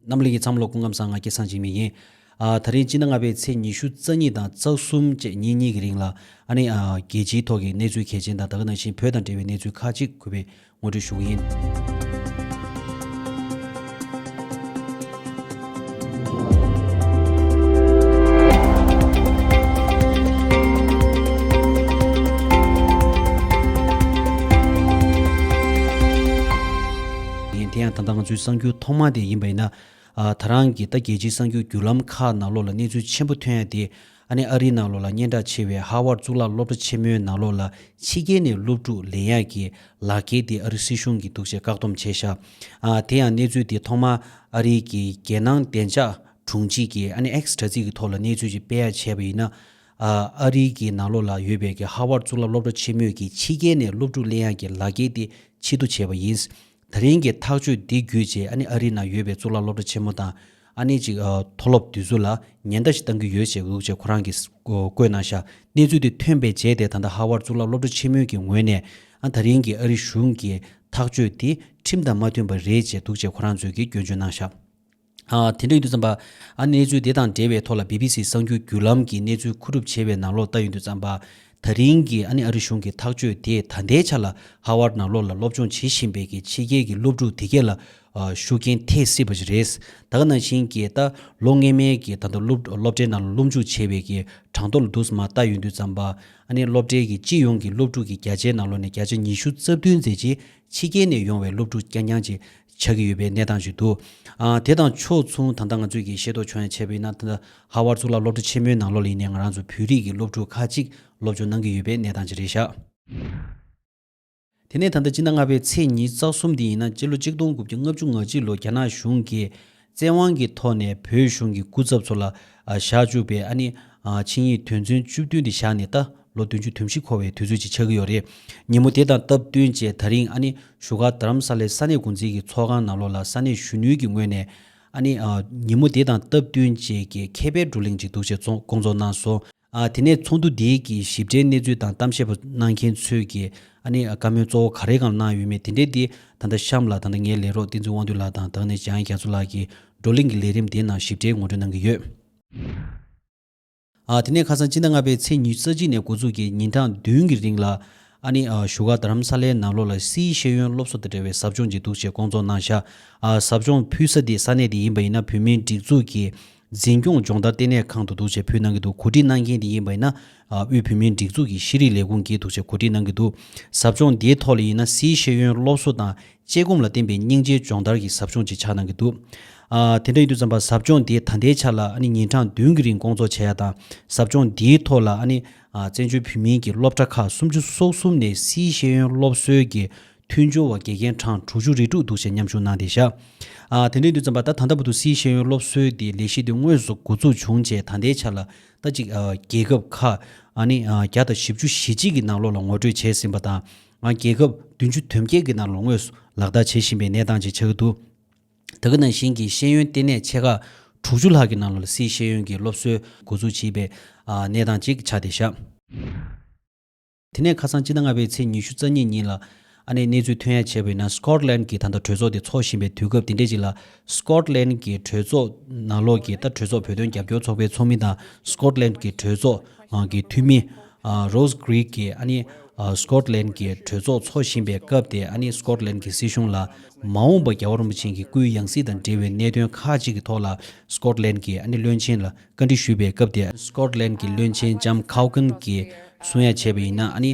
རྣམས་ལུས་ཀྱི་མཚམས་ལོགས་སྐུ་ཁམས་གསང་སྔགས་ཀྱི་གསང་ཆེན་མིག་ཡིན། ད་རིང་སྤྱི་ན་ལྔ་པའི་ཚེས་ཉི་ཤུ་རྩ་གཉིས་དང་རྩ་གསུམ་བཅས་ཉིན་གཉིས་ཀྱི་རིང་ལ། རྒྱལ་སྤྱིའི་ཐོག་གི་གནས་ཚུལ་གལ་ཆེན་དང་ད་ག་ནང་བཞིན་བོད་དང་འབྲེལ་བའི་གནས་ཚུལ་ཁག་ཅིག་གུས་པས་ངོ་སྤྲོད་ཞུ་གི་ཡིན། ཡིན། དེ་ཡང་ད་ལྟ་ང་ཚོའི་གསར་འགྱུར་ཐོག་མ་དེ་ཡིན་པ་ཡིན་ན། ད་རང་གིས་ད་རྒྱལ་སྤྱིའི་གསར་འགྱུར་བརྒྱུད་ལམ་ཁག་ནང་ལོགས་ལ་གནས་ཚུལ་ཆེན་པོ་ཐོན་ཡ་དེ། ཨ་ནེ་ཨ་རིའི་ནང་ལོགས་ལ་སྙན་གྲགས་ཆེ་བའི་ཧ་ཝར་གཙུག་ལག་སློབ་གྲྭ་ཆེན་མོའི་ནང་ལོགས་ལ་ཕྱི་རྒྱལ་ནས་སློབ་ཕྲུག་ལེན་ཡ་གི་ལག་འཁྱེར་དེ་ཨ་རི་སྲིད་གཞུང་གིས་འདུག་ཅེས་བཀག་སྡོམ་བྱས་ཤག་ཨ། དེ་ཡང་གནས་ཚུལ་དེ་ཐོག་མ་ཨ་རིའི་གི་རྒྱལ་ནང་བདེ་འཇགས་དྲུང་ཆེ་གིས་ཨ་ནེ་ཨེག་སི་དྲ་ཚིགས་ཀྱི་ཐོག་ལ་གནས་ཚུལ་ཅིག་སྤེལ་ཡ་བྱས་པ་ཡིན་ན། ཨ་རིའི་གི་ནང་ལོགས་ལ་ཡོད་པའི་གི་ཧ་ཝར་གཙུག་ལག་སློབ་གྲྭ་ཆེན་མོས་གི་ཕྱི་རྒྱལ་ནས་སློབ་ཕྲུག་གླེང་ཡག་གི་ལག་འཁྱེར་དེ་ཕྱི་བསྡུ་བྱས་པ་ཡིན། ད་རིང་གི་ཐག་གཅོད་འདི་བརྒྱུད་རྗེས་ཨ་ནི་ཨ་རིའི་ནང་ཡོད་པའི་གཙུག་ལག་སློབ་གྲྭ་ཆེན་མོ་དང་ཨ་ནི་གཅིག་མཐོ་སློབ་དུས་ཚོད་ལ་ཉེན་བརྡ་ཞིག་བཏང་གི་ཡོད་ཅེས་འུག་ཅེས་ཁོ་རང་གིས་བཀོད་གནང་ཤག་གནས་ཚུལ་དེ་ཐོན་པའི་རྗེས་དེ་ད་ལྟ་ཧ་ཝར་གཙུག་ལག་སློབ་གྲྭ་ཆེན་མོའི་གི་ངོས་ནས་ཨ་ད་རིང་གི་ཨ་རི་གཞུང་གི་ཐག་གཅོད་དེ་ཁྲིམས་དང་མ་མཐུན་པ་རེད་ཅེས་འདུག་ཅེས་ཁོ་རང་ཚོས་གི་སྐྱོན་བརྗོད་གནང་ཤག། དེ་འདྲ་ཡིན་དུས་བརྩམས་པ། ཨ་གནས་ཚུལ་དེ་དང་འབྲེལ་བའི་ཐོག་ལ BBC གསར་འགྱུར་བརྒྱུད་ལམ་གྱིས་གནས་ཚུལ་མཁོ་སྒྲུབ་བྱས་པའི་ནང་ལོག་ལྟ་ཡིན་དུས་བརྩམས་པ། ད་རིང་གི་ཨ་ནི་ཨ་རི་གཞུང་གི་ཐག་གཅོད་དེས་ད་ལྟའི་ཆ་ལ་ཧ་ཝར་ནང་ལོག་ལ་སློབ་སྦྱོང་བྱེད་བཞིན་པའི་གི་ཕྱི་རྒྱལ་གྱི་སློབ་ཕྲུག་དེ་གས་ལ་ཤུགས་རྐྱེན་ཐེབས་སྲིད་པ་ཞིག་རེད། ད་ག་ནང་བཞིན་གྱི་ད་ལོ་སྔས་མའི་གི་ད་དུང་སློབ་སློབ་གྲྭའི་ནང་ལ་སློབ་འཇུག་བྱེད་པའི་གི་གྲངས་ཐོ་ལ་དུས་མ་ལྟ་ཡོད་དུས་བརྩམས་པ། ཨ་ནི་སློབ་གྲྭའི་གི་སྤྱི་ཡོངས་ཀྱི་སློབ་ཕྲུག་གི་བརྒྱ་ཆའི་ནང་ལོག་ནས་བརྒྱ་ཆ་ཉི་ཤུ་རྩ་བདུན་མཛད་རྗེས་ཕྱི་རྒྱལ་ནས་ཡོང་བའི་སློབ་ཕྲུག་རྐྱང་རྐྱང་ཅིག་ཆགས་ཀྱི་ཡོད་པའི་གནས་སྟངས་ཤིག་འདུག་དེ་དང་ཕྱོགས་མཚུངས་ད་ལྟ་ང་ཚོས་ཀྱིས་ཤེས་རྟོགས་བྱུང་ཡང་ཆེ་བ་ཡིན་ན་ད་ལྟ་ཧ་ཝར་གཙུག་ལག་སློབ་གྲྭ་ཆེན་མོའི་ནང་ལོ་ལེགས་ནས་ང་རང་ཚོ་བོད་རིགས་ཀྱི་སློབ་ཕྲུག་ཁག་ཅིག་སློབ་སྦྱོང་གནང་གི་ཡོད་པའི་གནས་སྟངས་ཅིག་རེད་ཤག། དེ་ནས་ད་ལྟ་སྤྱི་ཟླ་ལྔ་པའི་ཚེས་ཉིན་རྩ་གསུམ་དེ་ཡིན་ན་སྤྱི་ལོ་གཅིག་སྟོང་དགུ་བརྒྱ་ལྔ་བཅུ་ང་གཅིག་ལོ་རྒྱ་ནག་གཞུང་གིས་བཙན་དབང་གི་ཐོག་ནས་བོད་གཞུང་གི་སྐུ་ཚབ་ཚོ་ལ་བཞག་བཅུག་པའི་ཨ་ནི་ཆིངས་ཡིག་དོན་ཚན་བཅུ་བདུན་དེ་བཞག་ནས་ད་ལོ་བདུན་ཅུ་དུས་བཞི་འཁོར་བའི་དུས་ཚོད་ཅིག་ཆགས་ཀྱི་ཡོད་རེད། ཉིན་མོ་དེ་དང་སྟབས་བསྟུན་བཅས་ད་རིང་ཨ་ནི་བཞུགས་སྒར་དྷ་རམ་ས་ལའི་ས་གནས་འགོ་འཛིན་གྱི་ཚོགས་ཁང་ནང་ལོགས་ལ་ས་གནས་གཞོན་ནུའི་གི་ངོས་ནས་ཨ་ནི་ཉིན་མོ་དེ་དང་སྟབས་བསྟུན་བཅས་ཀྱི་མཁས་པའི་བགྲོ་གླེང་ཅིག་འདུག་ཅེས་བསྐོང་ཚོགས་གནང་སོང། དེ་ནས་ཚོགས་འདུ་དེའི་གི་ཞིབ་ཕྲའི་གནས་ཚུལ་དང་གཏམ་བཤད་པ་གནང་མཁན་ཚོས་ཀྱི་ཨ་ནི་བཀའ་མོལ་གཙོ་བོ་ག་རེ་གང་གནང་ཡོད་མེད་དེ་འདྲའི་དེ་ད་ལྟ་གཤམ་ལ་ད་ལྟ་ངའི་ལས་རོགས་བསྟན་འཛིན་དབང་འདུས་ལགས་དང་དང་ནས་འཇང་རྒྱ་མཚོ་ལགས་ཀྱིས་བགྲོ་གླེང་གི་ལས་རིམ་དེའི་ནང་ཞིབ་ཕྲའི་ངོ་སྤྲོད་གནང་གི་ཡོད། དེ་ནས་ཁ་སང་སྤྱི་ཟླ་ལྔ་པའི་ཚེས་ཉི་ཤུ་རྩ་གཅིག་ནས་འགོ་ཚུགས་ཀྱི་ཉིན་གྲངས་བདུན་གི་རིང་ལ་ཨ་ནི་བཞུགས་སྒར་རྡ་རམ་ས་ལའི་ནང་ལོགས་ལ་སིའི་ཤེས་ཡོན་སློབ་གསོ་དང་འབྲེལ་བའི་ཟབ་སྦྱོང་ཅིག་འདུག་ཅེས་བསྐོང་ཚོགས་གནང་བཞག་ཟབ་སྦྱོང་ཕུལ་ས་དེ་ས་གནས་དེ་ཡིན་པ་ཡིན་ན་བོད་མིའི་སྒྲིག་འཛུགས་ཀྱི་འཛིན་སྐྱོང་སྦྱོང་བརྡར་ལྟེ་གནས་ཁང་དུ་འདུག་ཅེས་ཕུལ་གནང་གི་འདུག་གོ་སྒྲིག་གནང་མཁན་དེ་ཡིན་པ་ཡིན་ན། དབུས་བོད་མིའི་སྒྲིག་འཛུགས་ཀྱི་ཤེས་རིག་ལས་ཁུངས་ཀྱིས་འདུག་ཅེས་གོ་སྒྲིག་གནང་གི་འདུག་ཟབ་སྦྱོང་དེའི་ཐོག་ལ་ཡིན་ན་སཱིའི་ཤེས་ཡོན་སློབ་གསོ་དང་དཔྱད་སྒོམ་ལ་བརྟེན་པའི་སྙིང་རྗེའི་སྦྱོང་བརྡར་གྱི་ཟབ་སྦྱོང་ཅིག་ཆགས་གནང་གི་འདུག་དེ་འདྲ་ཡིན་དུས་བརྩམས་པ་ཟབ་སྦྱོང་དེ་ད་ལྟའི་ཆ་ལ་ཉིན་གྲངས་བདུན་གྱི་རིང་སྐོང་ཚོགས་བྱས་ཡ་དང་ཟབ་སྦྱོང་དེའི་ཐོག་ལ་བཙན་བྱོལ་བོད་མིའི་གྱི་སློབ་གྲྭ་ཁག་སུམ་ཅུ་སོ་གསུམ་ནས་སཱིའི་ཤེས་ཡོན་སློབ་གསོའི་གྱི་མཐུན་སྦྱོར་བ་དགེ་རྒན་གྲངས་དྲུག་ཅུ་རེ་དྲུག་འདུག་ཅེས་མཉམ་ཞུགས་གནང་སྟེ་བཞག། དེ་འབྲེལ་དུས་བརྩམས་པ་ལྟར་ད་ལྟ་བུ་དུ་སིའི་ཤེས་ཡོན་སློབ་གསོའི་དེ་ལས་གཞི་དེ་དངོས་སུ་འགོ་འཛུགས་བྱུང་རྗེས་ད་ལྟའི་ཆར་ལ་ད་གཅིག་རྒྱལ་ཁབ་ཁག་ནི་བརྒྱ་དང་བཞི་བཅུ་གཞི་གཅིག་གི་ནང་ལོགས་ལ་ངོ་སྤྲོད་བྱས་ཟིན་པ་དང། རྒྱལ་ཁབ་བདུན་ཅུ་དོན་བརྒྱད་ཀྱི་ནང་ལོགས་དངོས་སུ་ལག་བསྟར་བྱེད་བཞིན་པའི་གནས་སྟངས་བཅས་ཆགས་ཀྱི་འདུག་ད་གི་ནང་བཞིན་གྱི་ཤེས་ཡོན་ལྟེ་གནས་ཆེ་ཁག་དྲུག་ཅུ་ལྷག་གི་ནང་ལོགས་ལ་སིའི་ཤེས་ཡོན་གྱི་སློབ་གསོའི་འགོ་འཛུགས་བྱེད་པའི་གནས་སྟངས་བཅས་ཆགས་ཏེ་བཞག། དེ་ནས་ཁ་སང་སྤྱི་ཟླ་ལྔ་པའི་ཚེས་ཉི་ཤུ་རྩ་གཉིས་ཉིན་ལ། ཨ་ནེས་གནས་ཚུལ་ཐོན་ཡ་བྱས་པ་ཡིན་ན Scotland གྱི་ད་ལྟ་གྲོས་ཚོགས་དེ་འཚོགས་བཞིན་པའི་དུས་སྐབས་དེ་འདྲས་ཅིག་ལ། Scotland གྱི་གྲོས་ཚོགས་ནང་ལོགས་ཀྱི་ད་གྲོས་ཚོགས་བོད་དོན་རྒྱབ་སྐྱོར་ཚོགས་པའི་ཚོགས་མི་དང Scotland གྱི་གྲོས་ཚོགས་ཀྱི་འཐུས་མི། Rose Grigg གིས་ཨ་ནེས Scotland གྱི་གྲོས་ཚོགས་འཚོགས་བཞིན་པའི་སྐབས་དེ་ཨ་ནེས Scotland གྱི་སྲིད་གཞུང་ལ། མ་འོངས་པ་རྒྱལ་བ་རིན་པོ་ཆེན་གྱི་སྐུའི་ཡང་སྲིད་དང་འབྲེལ་བའི་གནད་དོན་ཁག་ཅིག་གི་ཐོག་ལ Scotland གྱིས་ཨ་ནེ་བློན་ཆེན་ལ་བཀའ་འདྲི་ཞུས་པའི་སྐབས་དེར Scotland གྱི་བློན་ཆེན Jam Cowgan གྱིས་གསུང་ཡ་བྱས་པ་ཡིན་ན་ནི།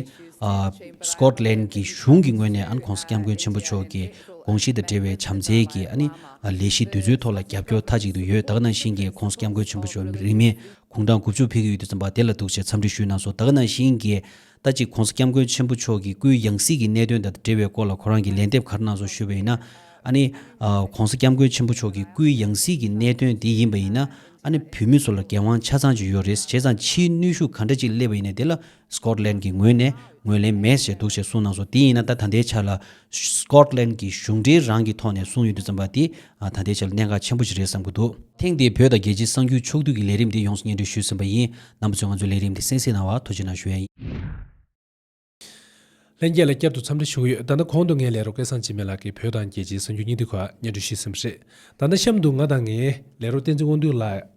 Scotland གྱི་གཞུང་གི་ངོས་ནས་ཁོང་སྐྱབས་མགོན་ཆེན་པོ་མཆོག་གི་དགོངས་གཞི་དང་འབྲེལ་བའི་བྱམས་བརྩེའི་གི་ལས་གཞི་འདི་ཚོའི་ཐོག་ལ་རྒྱབ་སྐྱོར་མཐའ་གཅིག་ཏུ་ཡོད་དག་ནང་བཞིན་གྱི་ཁོང་སྐྱབས་མགོན་ཆེན་པོ་མཆོག་རིང་མིན་གུང་ཁྲང་དགུ་བཅུ་ཕེབས་ཀྱི་ཡུལ་དུ་འཛོམས་པ་དེ་ལ་གདུག་བྱས་འཚམས་འདྲི་ཞུས་གནང་སོང་དག་ནང་བཞིན་གྱི་ཟླ་གཅིག་གོང་ས་སྐྱབས་མགོན་ཆེན་པོ་མཆོག་གིས་སྐུའི་ཡང་སྲིད་ཀྱི་གནད་དོན་དང་འབྲེལ་བའི་སྐོར་ལ་ཁོ་རང་གིས་ལན་འདེབས་ག་རེ་གནང་སོང་ཞུས་པ་ཡིན་ན། ཨ་ནི། གོང་ས་སྐྱབས་མགོན་ཆེན་པོ་མཆོག་གིས་སྐུའི་ཡང་སྲིད་ཀྱི་གནད་དོན་དེ་ཡིན་པ་ཡིན་ན། ཨ་ནི་བོད་མི་ཚོ་ལ་འགན་དབང་ཆ་ཚང་ཅིག་ཡོད་རེད་བྱས་ཙང་ཕྱིའི་ནུས་ཤུགས་ག་འདྲ་ཅིག་སླེབས་པ་ཡིན་ནས་དེ་ལ། Scotland། གྱི་ངོས་ནས་ངོས་ལེན་མེད་ཟེར་འདུག་ཅེས་གསུངས་གནང་སོང་དེ་ཡིན་ན་ད་ད་ལྟའི་ཆར་ལ། Scotland གྱི་གཞུང་འབྲེལ་རང་གི་ཐོག་ནས་གསུངས་ཡོད་འདུག་བཙན་པ་དེ་ད་ལྟའི་ཆར་གནད་འགག་ཆེན་པོ་ཞིག་རེད་བསམ་གྱི་འདུག། ཐེངས་འདིའི་བོད་དང་རྒྱལ་སྤྱིའི་གསང་རྒྱུད་ཕྱོགས་བསྡུས་ཀྱི་ལས་རིམ་དེ་ཡོངས་སུ་སྙན་སྒྲོན་ཞུས་ཟིན་པ་ཡིན། ནང་པ་ཚོས་ང་ཚོའི་ལས་རིམ་དེ་གསན་གཟིགས་གནང་བར་ཐུགས་རྗེ་གནང་ཞུ་ཡ། ལྷན་རྒྱས་ལ་བསྐྱར་དུ་འཚམས་འདྲི་ཞུ་གི་ཡོད་ད་ལྟ་གོང་དུ་ངའི་ལས་རོགས་སྐལ་བཟང་འཇིགས་མེད་ལགས་ཀྱིས་བོད་དང་རྒྱལ་སྤྱིའི་གསང་རྒྱུད་སྙིང་བསྡུས་ཁག་སྙན་སྒྲོན་ཞུས་ཟིན་པ་རེད་ད་ལྟ་གཤམ་དུ་ང་དང་ངའི་ལས་རོགས་བསྟན་འཛིན་དབང་འདུས་ལགས།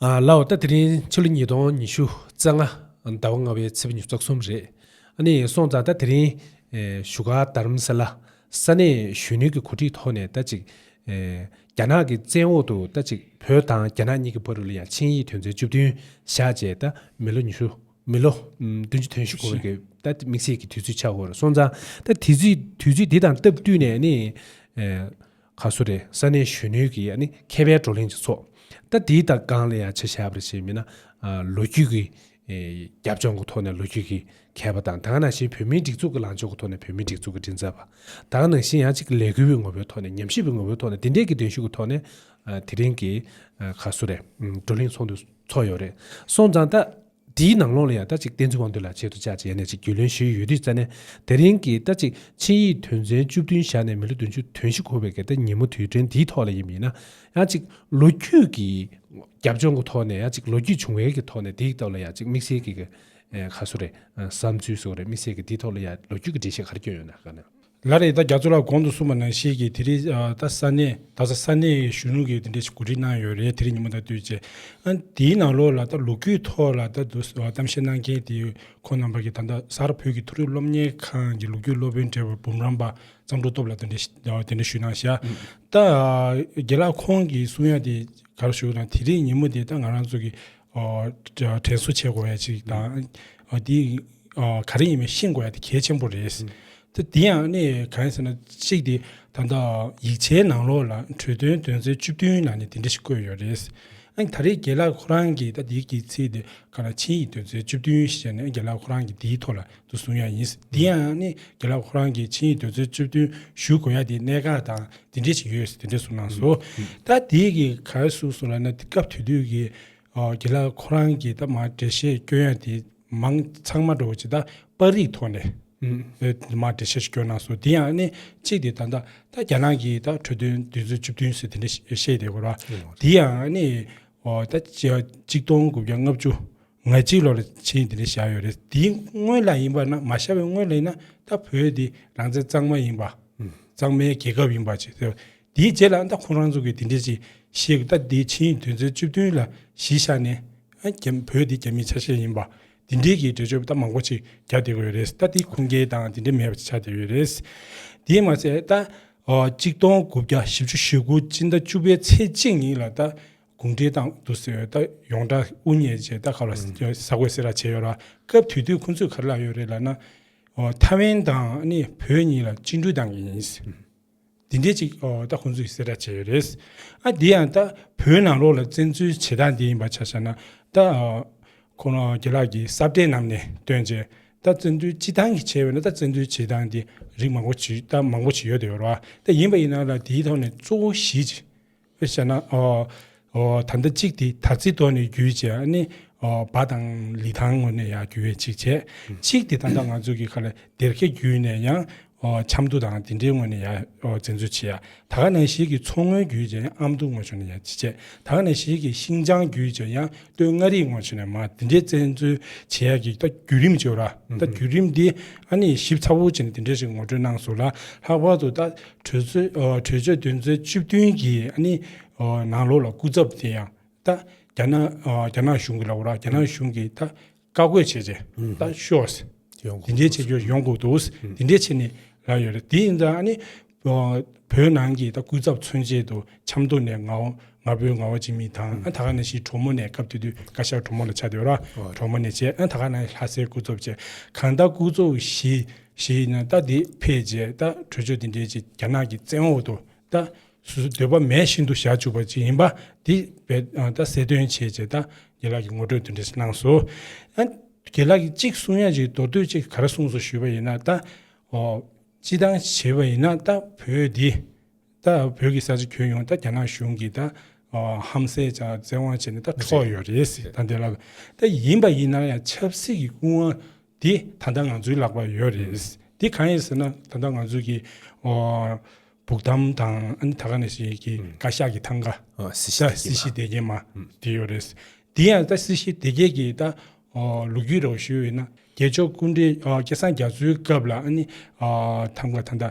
ལ་འོ་ད་དེ་རིང་ཕྱི་ལོ་ཉིས་སྟོང་ཉི་ཤུ་རྩ་ལྔ་ཟླ་བ་ལྔ་བའི་ཚེས་བཅུ་རྩ་གསུམ་རེད་ནི་སོང་ཙང་ད་དེ་རིང་བཞུགས་སྒར་དར་མ་ས་ལ་ས་གནས་གཞོན་ནུའི་གི་གོ་སྒྲིག་ཐོག་ནས་ད་ཅིག་རྒྱ་ནག་གི་བཙན་འོག་ཏུ་ད་ཅིག་བོད་དང་རྒྱ་ནག་གཉིས་ཀི་བར་རུ་ལ་ཡང་ཆིངས་ཡིག་དོན་ཚན་བཅུ་བདུན་བཞག་རྗེས་ད་མི་ལོ་ཉི་ཤུ་མི་ལོ་བདུན་ཅུ་དོན་བཞི་འཁོར་བའི་གི་ད་དམིགས་བསལ་གི་དུས་ཚོད་ཆགས་འོར་སོང་ཙང་ད་དུས་ཚོད་དེ་དང་སྟབས་བསྟུན་ནས་ནི་ཁ་སུ་རེ་ས་གནས་གཞོན་ནུའི་གི་ཡ་ནི་མཁས་པའི་བགྲོ་གླེང་བྱེད་ཚོགས་ད་དེའི་ད་གང་ལ་ཡ་བྱེད་ཤ་བར་བྱེད་མི་ན་ལོ་རྒྱུས་གི་རྒྱབ་ལྗོངས་གི་ཐོག་ནས་ལོ་རྒྱུས་གི་མཁས་པ་དང་ད་གང་ན་བཞིན་བོད་མིའི་སྒྲིག་འཛུགས་གི་ལངས་ཕྱོགས་གི་ཐོག་ནས་བོད་མིའི་སྒྲིག་འཛུགས་གི་མགྲིན་ཚབ་པ་ད་གང་ནང་བཞིན་ཡ་གཅིག་གི་ལས་འགུལ་བའི་ངོ་བོའི་ཐོག་ནས་ཉམས་ཞིབ་པའི་ངོ་བོའི་ཐོག་ནས་འདི་འདྲའི་གི་གདན་ཞུ་གི་ཐོག་ནས་དེ་རིང་གི་ཁ་སུ་རེ་བགྲོ་གླེང་ཚོགས་འདུ་ཚོགས་ཡོད་རེད་སོང་ཙང་ད། དེའི་ནང་ལོགས་ལ་ཡང་ལྟ་ཅིག་བསྟན་འཛིན་དབང་འདུས་ལ་ཆེད་དུ་བཅར་ཅེས་ཡས་ནས་ཅིག་རྒྱུས་ལོན་ཞུས་ཡོད་དུས་རྩ་ནས་དེ་རིང་གི་ལྟ་ཅིག་ཆིངས་ཡིག་དོན་ཚན་བཅུ་བདུན་བཞག་ནས་མི་ལོ་བདུན་ཅུ་དོན་བཞི་འཁོར་བའི་སྒེར་བདག་ཉིན་མོ་དུས་དྲན་འདིའི་ཐོག་ལ་ཡིན་པ་ཡིན་ན་ཡང་ཅིག་ལོ་རྒྱུས་ཀྱི་རྒྱབ་ལྗོངས་ཀྱི་ཐོག་ནས་ཡང་ཅིག་ལོ་རྒྱུས་བྱུང་བའི་གི་ཐོག་ནས་དེའི་སྐབས་ལ་ཡང་ཅིག་དམིགས་བསལ་གྱི་ག་གསོ་རེད་བསམ་ཚུལ་གསོ་རེད་དམིགས་བསལ་གྱི་དེའི་ཐོག་ལ་ཡང་ལོ་རྒྱུས་ཀྱི་འགྲེལ་བཤད་ག་རེ་བསྐྱོན་ཡོད་ན་དགའ་ན། ལར་རེས་ད་རྒྱ་མཚོ་ལགས་གོང་དུ་གསུངས་པ་ནང་བཞིན་གྱི་དེ་རིང་ད་ས་གནས་རྡ་ས་ས་གནས་གཞོན་ནུ་གིས་དེ་འདྲའི་གོ་སྒྲིག་གནང་ཡོད་རེད་དེ་རིང་ཉིན་མོ་ད་དུས་བྱས། དེའི་ནང་ལོགས་ལ་ད་ལོ་རྒྱུས་ཐོག་ལ་ད་དུ་གཏམ་བཤད་གནང་མཁན་དེ་ཁོང་རྣམ་པ་གིས་ད་ལྟ་གསར་བོད་ཀྱི་ཐུགས་རེ་སློབ་གཉེར་ཁང་གི་ལོ་རྒྱུས་སློབ་དཔོན་བཀྲས་འབུམ་རམས་པ་གཙང་སྒྲོ་སྟོབས་ལ་དེ་འདྲ་ཞུས་གནང་ཤག་ད་རྒྱལ་ལགས་ཁོང་གིས་གསུང་ཡ་དེ་གར་ཞུགས་གནང་དེ་རིང་ཉིན་མོ་དེ་ད་ང་རང་ཚོ་གིས་དྲན་གསོ་བྱེད་དགོས་བ་ཞིག་དང། འདི་ག་རེ་ཡིན་པའི་ཤེས་དགོས་བ་དེ་གལ་ཆེན་པོ་རེད། ད་འདི་ཡང་གནས་ཡོད་གང་ཡིན་ཟེར་ན་གཅིག་དེ་ད་ལྟ་ཡིག་ཆའི་ནང་ལོགས་ལ་གྲོས་དོན་དོན་ཚན་བཅུ་བདུན་ནང་ནས་འདི་འདྲ་ཞིག་བཀོད་ཡོད་རེད། ཨང་ད་རེས་དགེ་ལགས་ཁོ་རང་གིས་ད་འདི་གི་ཚིག་དེ་ག་ལ་ཆིངས་ཡིག་དོན་ཚན་བཅུ་བདུན་ཞེས་བྱས་ནས་དགེ་ལགས་ཁོ་རང་གིས་འདིའི་ཐོག་ལ་དུ་བཟུང་ཡ་ཡིན། འདི་ཡང་ནི་དགེ་ལགས་ཁོ་རང་གི་ཆིངས་ཡིག་འདོད་ཚུལ་བཅུ་བདུན་ཞུ་དགོས་ཡ་དེ་གནད་འགག་དང་དེ་འདྲས་ཤིག་ཡོད་ཟེར་དེ་འདྲས་གསུངས་གནང་སོ། ད་དེ་གི་ག་རེ་གསུངས་སོང་ལ་ན་དེ་སྐབས་དུས་དུས་ཀྱི་དགེ་ལགས་ཁོ་རང་གི་ད་མར་འགྲེལ་བཤད་སྐྱོན་ཡ་དེ་མང་ཚང་མ་འགྲོ་ཇི་ད་པར་རིགས་ཐོག་ནས་དེ་མར་འགྲེལ་བཤད་ཤིག་སྐྱོན་གནང་སོ་དེ་ཡང་ནི་གཅིག་དེ་ད་ད་རྒྱ་ནག་གི་ད་འཕྲོས་དོན་འདོད་ཚུལ་བཅུ་བདུན་ཟེར་དེ་འདྲས་ཤིག་བཤད་དེ་གོ་ར་དེ་ཡང་ནི་ད་གཅིག་སྟོང་དགུ་བརྒྱ་ལྔ་བཅུ་ང་གཅིག་ལོག་ལ་ཆེན་འདི་ནས་བཞག་ཡོད་རེད་དེའི་སྔོན་ལ་ཡིན་པ་ན་མ་བཞག་པའི་སྔོན་ལ་ཡིན་ན་ད་བོད་འདི་རང་བཙན་གཙང་མ་ཡིན་པ། གཙང་མའི་རྒྱལ་ཁབ་ཡིན་པ་ཅིག་ཟེར་བ་དེའི་རྗེས་ལ་ད་ཁོང་རང་ཚོ་གིས་འདི་འདྲ་ཅིག་བཤད་དགོས་ད་འདི་ཕྱིའི་དུས་ཚོད་བཅུ་བདུན་ལ་གཞི་བཞག་ནས་བོད་འདི་རྒྱ་མིའི་ཆ་ཤས་ཡིན་པ་འདི་འདྲའི་གི་འགྲེལ་བརྗོད་ད་མང་པོ་ཅིག་རྒྱག་བསྡད་དགོས་ཡོད་རེད་ད་འདི་ཁུངས་སྐྱེལ་དང་འདི་འདྲ་མེད་པ་ཅིག་ཆགས་བསྡད་ཡོད་རེད། དེའི་མ་ཟད་ད། གཅིག་སྟོང་དགུ་བརྒྱ་བཞི་བཅུ་ཞེ་དགུ་སྤྱི་ཟླ་བཅུ་པའི་ཚེས་གཅིག་ཉིན་ལ་ད་དགུང་འབྲེལ་དང་བསྡུར་ཟེར་ཡོད་ད་ཡོང་འདྲ་དབུ་བརྙེས་རྗེས་ད་ག་ལ་ཟ་གོས་ཟེར་ར་བྱས་ཡོད་ར་སྐབས་དུས་དུས་ཁོང་ཚོས་ག་རེ་ལབ་ཡོད་རེད་ལབ་ན། ཐ་ཝན་དང་ནི་བོད་གཉིས་ལ་གཅིག་འགྲུལ་བཏང་གི་ཡིན། འདི་འདྲས་ཅིག་ད་ཁོང་ཚོས་ཟེར་ར་བྱས་ཡོད་རེད། ཨ་འདི་ཡང་ད་བོད་ནང་ལོག་ལ་བཙན་འཛུལ་བྱེད་སྟངས་འདི་ཡིན་པ་ཆ་ཤ་ན་ད། ཁོང་རང་རྒྱལ་ལགས་ཀྱི་གསར་བསྒྲེས་གནམ་ནས་བཏོན་རྗེས་ད་བཙན་འཛུལ་ཅི་སྟངས་ཀྱིས་བྱས་ཡོད་ན་ད་བཙན་འཛུལ་བྱེད་སྟངས་འདི་རིགས་མང་པོ་བྱེད་ད་མང་པོ་བྱེད་ཡོད་ད་ཡོད་ར་ད་ཡིན་པ་ཡིན་ན་ལ་དེའི་ཐོག་ནས་གཙོ་བོ་གཞིས་ཨེ་ཤ་ན། ད་ལྟ་གཅིག་དེ་དར་ཚིག་ཐོག་ནས་བརྒྱུད་རྗེས་ཨ་ནི་བ་དང་ལི་ཐང་ངོས་ནས་ཡང་བརྒྱུད་བས་གཅིག་བྱས། གཅིག་དེ་ད་ལྟ་ང་ཚོ་གི་ཁ་ལ་སྡེར་ཁས་བརྒྱུད་ནས་ཡང་ཆབ་མདོ་དང་དེ་འདྲའི་ངོས་ནས་ཡང་འཛེམ་བཟོ་བྱས། ད་ག་ནང་བཞིན་གྱི་མཚོ་ངོས་བརྒྱུད་རྗེས་ཡང་ཨ་མདོ་ངོས་ཕྱོགས་ནས་ཡང་གཅིག་བྱས། ད་ག་ནང་བཞིན་གྱི་ཤིང་ཅང་བརྒྱུད་རྗེས་ཡང་སྟོད་མངའ་རིས་ངོས་ཕྱོགས་ནས་མ་དེ་འདྲའི་བཙན་འཛུལ་བྱས་ཡ་གི་ད་བརྒྱུད་རིམ་བྱས་ར། ད་བརྒྱུད་རིམ་དེ་ཨ་ནི་ཞིབ་ཚགས་པོ་བྱས་ནས་དེ་འདྲ་ཞིག་ངོ་སྤྲོད་གནང་སོང་ལ་ལྷག་པར་དུ་ད་གྲོས་ཆོད་དོན་ཚན་བཅུ་བདུན་གྱི་ནང་ལོགས་ལ་སྐུ་ཚབ་དེ་ཡང་རྒྱ་ནག་གཞུང་གི་ལ་བུར་རྒྱ་ནག་གཞུང་གིས་བཀའ་བཀོད་བྱས་རྗེས་ཤོག་དེ་འདྲའི་བྱེད་སྤྱོད་ཡོང་དགོས་འདུག་དེ་འདྲའི་ཆེད་ནས་ལབ་ཡོད་རེད་དེ་ཡིན་བོད་ནང་གི་སྐུ་ཚབ་མཚོན་ཆེད་དུ་ཆབ་མདོ་ནས་ང་ཕོད་ང་བ་ཅི་མི་དང་ད་ག་ནས་ཤི་གྲོ་མོ་ནས་སྐབས་དེ་དུས་བཀའ་ཤག་གྲོ་མོ་ལ་ཆགས་དེ་བ་ར་གྲོ་མོ་ནས་བྱས་ད་ག་ནས་ལྷ་སའི་སྐུ་ཚབ་བྱས་གང་ལྟར་སྐུ་ཚབ་བཞི་ཞེས་ཡིན་ན་ད་དེ་ཕེབས་རྗེས་ད་གྲོས་ཆོད་འདི་འབྲེལ་གྱི་རྒྱ་ནག་གི་བཙན་འོག་ཏུ་ད་སུ་སུ་འདོད་པ་མེད་བཞིན་དུ་བཞག་བཅུག་པ་ཅིག་ཡིན་པ་འདི་ད་གསལ་སྟོན་བྱེད་ཅེས་ད་རྒྱལ་ལགས་ཀྱི་ངོ་སྤྲོད་འདི་འབྲེལ་གནང་སོ། རྒྱལ་ལགས་ཀྱིས་གཅིག་གསུང་ཡ་གཅིག་མདོར་བསྡུས་ཅིག་ག་རེ་གསུངས་སོ་ཞུས་པ་ཡིན་ན་ད་སྤྱི་བཏང་བྱེད་པ་ཡིན་ན་ད་བོད་འདི་ད་བོད་ཀྱི་ས་ཆ་ཁྱོན་ཡོངས་ད་རྒྱ་ནག་གཞུང་གིས་ད་ཧམ་བསད་བྱ་བཙན་དབང་བྱས་ནས་ད་འཕྲོག་ཡོད་རེད་ཟེར་ད་འདི་ལ་ད་ཡིན་པ་ཡིན་ན་ཡང་ཆབ་སྲིད་ཀྱི་སྐུ་དབང་དེ་ད་ལྟ་ང་ཚོའི་ལག་པར་ཡོད་རེད། དེ་གང་ཡིན་ཟེར་ན་ད་ལྟ་ང་ཚོ་གི་བུག་ཐམ་དང་ཨ་ད་ག་ནས་ཞིག་གི་བཀའ་ཤག་གི་ཐང་ག། སྲིད་ཞི་སྲིད་ཞི་བདེ་སྐྱིད་མ། དེ་ཡོད་རེད། དེ་ཡང་ད་སྲིད་ཞི་བདེ་སྐྱིད་ཀྱི་ད་ལུགས་རྒྱུས་རོགས་ཞུས་ཡོད་ན། རྒྱལ་མཆོག་སྐུ་འདྲའི་སྐལ་བཟང་རྒྱ་མཚོའི་སྐབས་ལ་ཨ་ནི་ཐང་ག་ད་ད་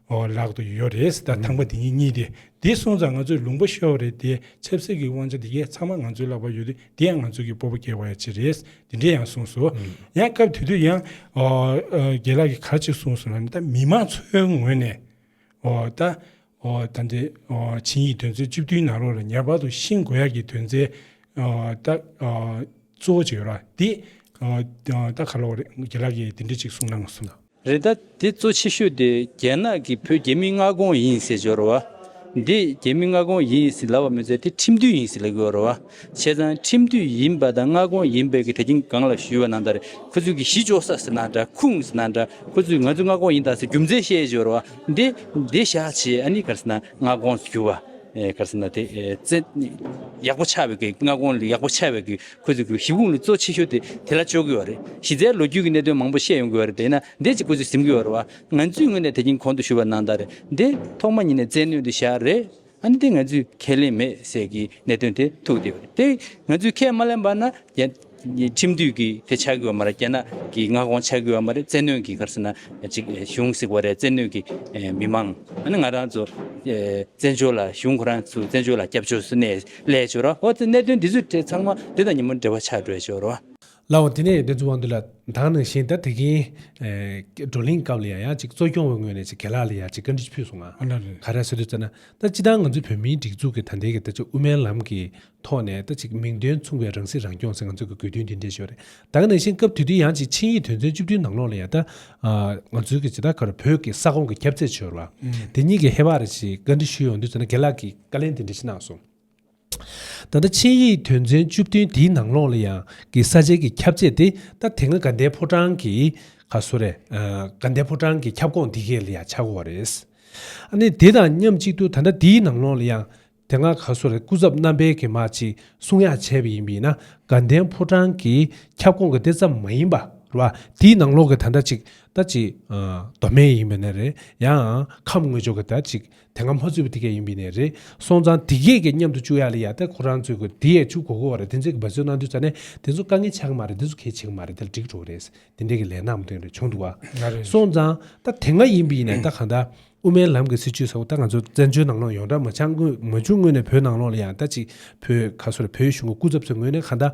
ཨོ་ལག་ཏུ་ཡོད་རེད་ད་ཐང་པ་འདི་གཉིས་གཉིས་ཏེ་འདི་སོང་ཙང་ང་ཚོས་ལུང་པ་ཤོར་བ་རེད་དེ་ཆབ་སྲིད་ཀྱི་དབང་ཆ་འདི་གས་ཚང་མ་ང་ཚོའི་ལག་པར་ཡོད་དུས་འདི་ཡང་ང་ཚོ་གི་སྤོ་པོ་སྐྱེ་བ་ཡ་གཅིག་རེད་འདི་འདྲས་ཡང་གསུངས་སོ་ཡང་སྐབས་དེ་དུས་ཡང་རྒྱལ་ལགས་ཀྱི་ག་ཅིག་གསུངས་སོང་ལ་ནི་ད་མི་མང་ཚོའི་ངོས་ནས་ད་ད་འདི་བྱིངས་ཡིག་དོན་ཚན་བཅུ་བདུན་ནང་རོགས་ལ་ཉར་བར་དུ་ཤིང་དགོ་ཡ་གི་དོན་ཚན་ད་གཙོ་བོ་ཅིག་ཡོད་ར་འདི་ད་ག་ལོག་རེད་རྒྱལ་ལགས་ཀྱིས་འདི་འདྲས་ཅིག་གསུངས་གནང་སོང། རེད་ད་དེ་གཙོ་ཆེ་ཤོས་དེ་རྒྱལ་ནག་གི་བུ་རྒྱལ་མི་མངའ་ཁོངས་ཡིན་ཟེར་གྱི་རོ་བ། འདི་རྒྱལ་མི་མངའ་ཁོངས་ཡིན་ཟེར་ལབ་བ་མི་ཚད་དེ་ཁྲིམས་མཐུན་ཡིན་ཟེར་ལབ་གི་རོ་བ། བྱས་ཙང་ཁྲིམས་མཐུན་ཡིན་པ་དང་མངའ་ཁོངས་ཡིན་པའི་གི་དེ་ཁྱིམ་གང་ལ་ཞུས་བ་ན་འདར་ཁོ་ཚོས་གི་གཞི་འཇོག་ས་ཟེར་ན་འདྲ་ཁུངས་ཟེར་ན་འདྲ་ཁོ་ཚོས་ང་ཚོས་མངའ་ཁོངས་ཡིན་ད་ཟེར་རྒྱུ་མཚན་བཤད་གྱི་རོ་བ། འདི་འདི་བཞག་བྱས་ཨ་ནི་གར་ཟེར་ན་མངའ་ཁོངས་ཟེར་གྱི་བ། གར་ཟེར་ན་དེ་བཙན་ཡག་པོ་ཆགས་བའི་གི་མངའ་ཁོངས་ཡག་པོ་ཆགས་བའི་གི་ཁོས་ཚོའི་གཞི་ཁུངས་ནི་གཙོ་ཆེ་ཤོས་དེ་དེ་ལ་བཅོལ་དགོས་བ་རེད། གཞི་རྩའི་ལོ་རྒྱུས་ཀྱི་གནད་དོན་མང་པོ་བཤད་ཡོང་དགོས་བ་རེད་དེས་ན་འདི་གཅིག་ཁོ་ཚོས་གཟིམ་དགོས་བ་རེད་བ། ང་ཚོས་ངོས་ནས་དེ་རྐྱེན་གོང་དུ་ཞུ་བ་གནང་དག་རེད་དེ། ཐོག་མ་ཉིད་ནས་བཙན་གནོན་དེ་བཞག་རེད། ཨ་ནི་དེ་ང་ཚོས་ཁས་ལེན་མེད་ཟེར་གི་གནད་དོན་དེ་ཐུག་བསྡད་བ་རེད་དེ། ང་ཚོས་ཁས་མ་ལེན་པ་ན། ཁྲིམས་མཐུད་ཀྱི་དེ་ཆགས་དགོས་བ་མ་རེད་རྒྱ་ནག་གི་མངའ་ཁོངས་ཆགས་དགོས་བ་མ་རེད་བཙན་གནོན་གྱི་གར་སོང་ན་གཅིག་གཞུང་གཟིགས་བ་རེད་བཙན་གནོན་གྱི་མི་མང། ཨ་ནི་ང་རང་ཚོ་བཙན་བྱོལ་ལ་གཞུང་ཁོ་རང་ཚོས་བཙན་བྱོལ་ལ་སྐྱབས་བཅོལ་སུ་གནས། ལས་བྱོས་རོ། འོ་དེ་གནད་དོན་འདི་ཚོའི་ཐད་ཚང་མ་འདི་དང་ཉིན་མོ་འབྲེལ་བ་ཆགས་སྤྲོད་བྱོས་རོ། ལ་འོ་དེ་ནས་དེ་ཚོའི་དབང་དུ་ལ་དྭགས་ནང་བཞིན་ད་དེ་གིན་བགྲོ་གླེང་སྐབས་ལ་ཡང་ཡང་ཅིག་གཙོ་སྐྱོང་བའི་ངོས་ནས་ཅིག་ག་ལ་ལ་ཡང་ཅིག་བཀའ་འདྲི་ཕུལ་སོང་ང། ཨ་ལ་རེད། ག་རེ་ཟེར་དུས་ཙེ་ན་ད་སྤྱི་དང་ང་ཚོའི་བོད་མིའི་སྒྲིག་འཛུགས་ཀྱི་ད་ལྟའི་གི་ད་ཅིག་དབུ་མའི་ལམ་གི་ཐོག་ནས་ད་ཅིག་མིང་དོན་མཚུངས་པའི་རང་སྲིད་རང་སྐྱོང་ཟེར་ང་ཚོའི་གི་དགོས་འདུན་འདི་འདྲས་བྱོས་རེད་དྭགས་ནང་བཞིན་སྐབས་དུས་དུས་ཡང་ཅིག་ཆིངས་ཡིག་དོན་ཚན་བཅུ་བདུན་ནང་ལོགས་ལ་ཡང་ད་ང་ཚོའི་གི་ཇི་ལྟར་ག་རེ་བོད་གི་ས་ཁོངས་གི་ཁྱབ་ཚད་བྱོས་རོ། དེ་གཉིས་གི་ཧེ་བག་རེ་ཅིག་བཀའ་འདྲི་ཞུས་ཡོང་དུས་ཙེ་ན་ག་ལ་གི། བཀའ་ལན་འདི་འདྲ་ཞིག་གནང་སོང། ད་ལྟ་ཆིངས་ཡིག་དོན་ཚན་བཅུ་བདུན་འདིའི་ནང་ལོགས་ལ་ཡང་གི་ས་ཆའི་གི་ཁྱབ་བྱེད་དེ་ད་དེ་སྔ་དགའ་ལྡན་ཕོ་བྲང་གི་ག་བཟོ་རེད་དགའ་ལྡན་ཕོ་བྲང་གི་ཁྱབ་ཁོངས་འདི་གས་ལ་ཡང་ཆགས་དགོས་བ་རེད། ཨ་ནི་དེ་དང་མཉམ་གཅིག་ཏུ་ད་ལྟ་འདིའི་ནང་ལོགས་ལ་ཡང་དེ་སྔ་ག་བཟོ་རེད་སྐུ་ཚབ་རྣམ་པས་གི་མ་ཅིག་གསུང་ཡག་བྱས་པ་ཡིན་པ་ཡིན་ན་དགའ་ལྡན་ཕོ་བྲང་གི་ཁྱབ་ཁོངས་གི་དེ་ཙམ་མ་ཡིན་པ་རེད་བ་དེའི་ནང་ལོགས་གི་ད་ད་ཅིག་ད་ཅིག་མདོ་སྨད་ཡིན་པ་ན་རེད་ཡང་ཁམས་དངོས་ཕྱོགས་གི་ད་ཅིག་དེ་སྔ་མ་རྩོད་པའི་ཐིག་ཀ་ཡིན་པས་ནི་རེད། སོང་ཙང་དེ་གས་གས་མཉམ་དུ་བཅུག་ཡག་ལ་ཡག་སྟེ་ཁོ་རང་རྩོད་དགོས་དེ་ཡས་ཆུ་གོ་གོ་བ་རེད་དེ་ཚོས་གི་བ་རྩོད་གནང་དུས་ཙང་ནས་དེ་ཚོ་དཀའ་ངལ་ཆགས་གི་མ་རེད་དེ་ཚོ་གས་བྱེད་གི་མ་རེད་དེ་ལ་འགྲིག་འགྲོ་གི་རེད། དེ་འདྲས་གི་ལས་ནག་མོ་དོན་རེ་བྱུང་འདུག་བ། སོང་ཙང་ད་དེ་སྔ་ཡིན་པས་ནི་ད་གང་ད། དབུ་མའི་ལམ་གི་སྲིད་བྱུས་ཟེར་བ་ད་ང་ཚོ་བཙན་བྱོལ་ནང་ལོག་ཡོང་གྲ་མ་ཆགས་སྔོན་མ་བྱུང་སྔོན་ནས་བོད་ནང་ལོག་ལ་ཡང་ད་ཅིག་བོད་ག་སོ་ར་བོད་གཞུང་གི་སྐུ་ཚབ་ཚོས་ངོས་ནས་གང་ད་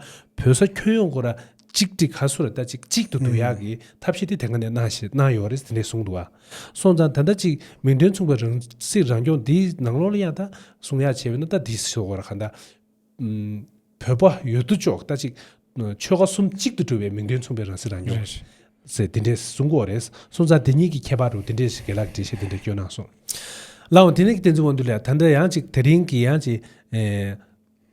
བོད་ས་ཁྱོན་ཡོངས་གོ་ར་གཅིག་སྒྲིག་ཁ་སུ་ར་ལྟ་ཅིག་གཅིག་ཏུ་འདུ་ཡག་གི་ཐབས་ཤེས་དེ་དེ་ག་ནས་གནང་ཞེས་གནང་ཡོད་རེད་དེ་འདྲས་གསུངས་འདུག་ཨ། སོང་ཙང་ད་ལྟ་ཅིག་མིང་དོན་མཚུངས་པའི་རང་སྲིད་རང་སྐྱོང་འདི་ནང་ལོག་ལ་ཡང་ད་གསུང་ཡག་བྱས་པས་ན་ད་འདི་ཟེར་བ་ར་ག་ད། བོད་པ་ཡོད་དོ་ཅོག་ལྟ་ཅིག་ཆོལ་ཁ་གསུམ་གཅིག་ཏུ་འགྲོ་བའི་མིང་དོན་མཚུངས་པའི་རང་སྲིད་རང་སྐྱོང། ཟེར་དེ་འདྲས་གསུང་གོ་རེད་སོང་ཙང་དེ་གཉིས་ཀྱི་ཁྱད་པར་རུ་དེ་འདྲས་ཞིག་དགེ་ལགས་འགྲེལ་བཤད་དེ་འདྲས་སྐྱོན་གནང་སོང། ལའང་དེ་ནས་ཀྱི་བསྟན་འཛིན་དབང་འདུས་ལ་ད་ད་ཡང་ཅིག་དེ་རིང་གི་ཡང་ཅིག།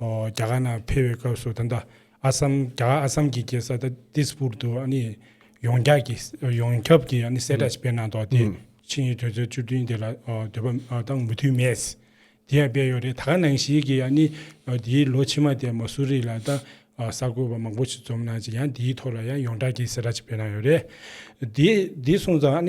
རྒྱ་གར་ནང་ཕེབས་པའི་སྐབས་སུ་ད་ལྟ་ཨ་སམ་རྒྱ་གར་ཨ་སམ་གྱི་རྒྱལ་ས་ཏིས་པུར་དུ་ཡོངས་ཁྱབ་ཀྱི་ཡོངས་ཁྱབ་ཀྱི་གསལ་བསྒྲགས་ཤིག་སྤེལ་གནང་འདུག་དེས་ཆིངས་ཡིག་དོན་ཚན་བཅུ་བདུན་དེ་ལ་འདོད་པ་དང་མུ་མཐུད་མེད། དེ་ཡང་སྤེལ་ཡོད་རེད་ད་ག་ནང་ཞིག་གིས་དེའི་ལོ་ཕྱི་མ་དེར་མ་སུ་རི་ལ་ད་གསར་འགོད་པ་མང་པོ་ཞིག་འཛོམས་གནང་རྗེས་ཡང་དེའི་ཐོག་ལ་ཡང་ཡོངས་གྲགས་ཀྱི་གསལ་བསྒྲགས་ཤིག་སྤེལ་གནང་ཡོད་རེད། དེ་གསུངས་ཙང།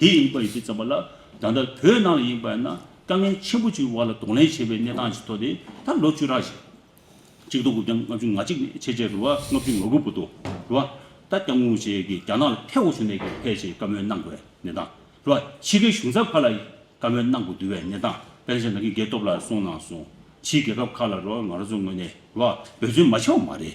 དེ་ཡིན་པར་གཞི་བརྩམས་པ་ལ་ད་ལྟ་བོད་ནང་ལ་ཡིན་པ་ཡིན་ན་དཀའ་ངལ་ཆེན་པོ་ཅིག་གི་བར་ལ་གདོང་ལེན་བྱེད་པའི་གནས་སྟངས་ཤིག་ཐོག་དེ་ད་ལོ་བཅུ་ཕྲག་བཞི། གཅིག་དོ་དགུ་བརྒྱ་ལྔ་བཅུ་ང་གཅིག་ནས་ཕྱེད་བཅས་རུ་བ་ལྔ་བཅུ་ང་དགུ་བུ་དོ་རུ་བ་ད་སྐྱབས་དངུལ་བཅས་ཀྱིས་རྒྱ་ནག་ལ་ཐེ་བོ་བྱུང་ནས་ཀྱང་ཕལ་ཆེར་བཀའ་མོལ་གནང་དགོས་གནས་སྟངས་རུ་བ་ཕྱི་གའི་གཞུང་ཚབ་ཁག་ལ་ཡིས་བཀའ་མོལ་གནང་དགོས་འདུ་བའི་གནས་སྟངས་དཔལ་ཆེན་ནང་གི་སྒེར་སྟོབས་ལ་སོང་ནང་སོང་ཕྱིའི་རྒྱལ་ཁབ་ཁག་ལ་རུ་བ་ང་རང་ཚོ་ངོས་ནས་རུ་བ་འབོད་བརྩོན་མ་བྱས་བ་མ་རེད།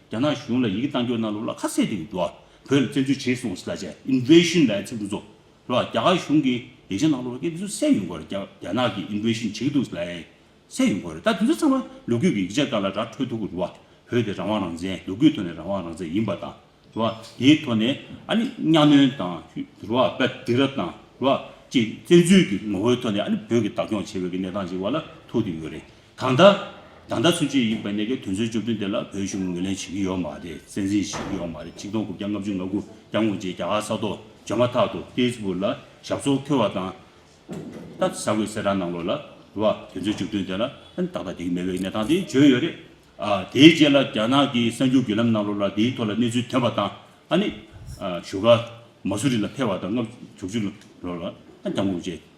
རྒྱ་ནག་གཞུང་ལ་ཡི་གེ་གཏང་སྐྱོང་གནང་ལུགས་ལ་ཁ་གསལ་དེ་ཡོད་འདུག་བོད་ལ་བཙན་འཛུལ་བྱས་སོང་ཟེར་ལ་རྗེས Invasion ལ་ཚིག་འབྲུ་ཚོ་ལ་རྒྱ་གར་གཞུང་གིས་ཡིག་ཆ་གནང་ལུགས་ལ་སྐད་འདི་ཚོ་གསལ་ཡོད་འགོ་རེད་རྒྱ་ནག་གིས Invasion བྱེད་ཀྱི་འདུག་ཟེར་ལ་ཡང་གསལ་ཡོད་འགོ་རེད་ད་དེ་ཚོ་ཚང་མ་ལོ་རྒྱུས་ཀྱི་ཡིག་ཆ་ཀ་ལ་དྲ་འཕྲོད་ཐུག་གི་རུ་བ་བོད་དེ་རང་དབང་རང་བཙན་ལོ་རྒྱུས་ཐོག་ནས་རང་དབང་རང་བཙན་ཡིན་པ་དང་རུ་བ་དེའི་ཐོག་ནས་ཨ་ནི་གཉའ་གནོན་དང་རུ་བ་བེད་སྡིག་ར་དང་རུ་བ་ཅིག་བཙན་འཛུལ་གྱི་ངོ་བོའི་ཐོག་ནས་ཨ་ནི་བོད་ཀྱི་བདག་སྐྱོང་བྱེད་པའི་གི་གནས་སྟངས་ཅིག་བ་ལ་ཐུག་གི་ཡོད་རེད། དང་ལྟ། དང་ལྟ་ཚུན་ཆོད་ཡིན་པ་ནས་ཀྱང་དུས་ཚོད་བཅུ་བདུན་དེ་ལ་བོད་གཞུང་གིས་ངོས་ལེན་བྱེད་ཀྱི་ཡོད་མ་རེད་བཙན་འཛིན་བྱེད་ཀྱི་ཡོད་མ་རེད་ཆིག་སྟོང་དགུ་བརྒྱ་ལྔ་བཅུ་ང་དགུ་བརྒྱ་སྔོན་རྗེས་རྒྱ་གར་ས་ཐོག་འབྱོར་མ་ཐག་ཏུ་ཧྥེས་བུག་ལ་ཞབས་སོར་འཁོད་བ་དང། ད་ས་གོས་སེར་ར་གནང་ལོ་ལ་བ་དུས་ཚོད་བཅུ་བདུན་དེ་ལ་ཏག་ཏག་བསྡིགས་མེད་བའི་གནས་སྟངས་དེ་བརྗོད་ཡོད་རེད། དེའི་རྗེས་ལ་རྒྱ་ནག་གི་གསར་འགྱུར་བརྒྱུད་ལམ་གནང་ལོ་ལ་དེའི་ཐོག་ལ་གནས་ཚུལ་ཐོན་པ་དང་ཨ་ནི་བཞུགས་སྒར་མ་སུ་རི་ལ་ཕེབས་བ་དང་ལྔ་བཅུ་དྲུག་ཅུ་ལོ་ལ་རྒྱ་མགོ་བརྗེས།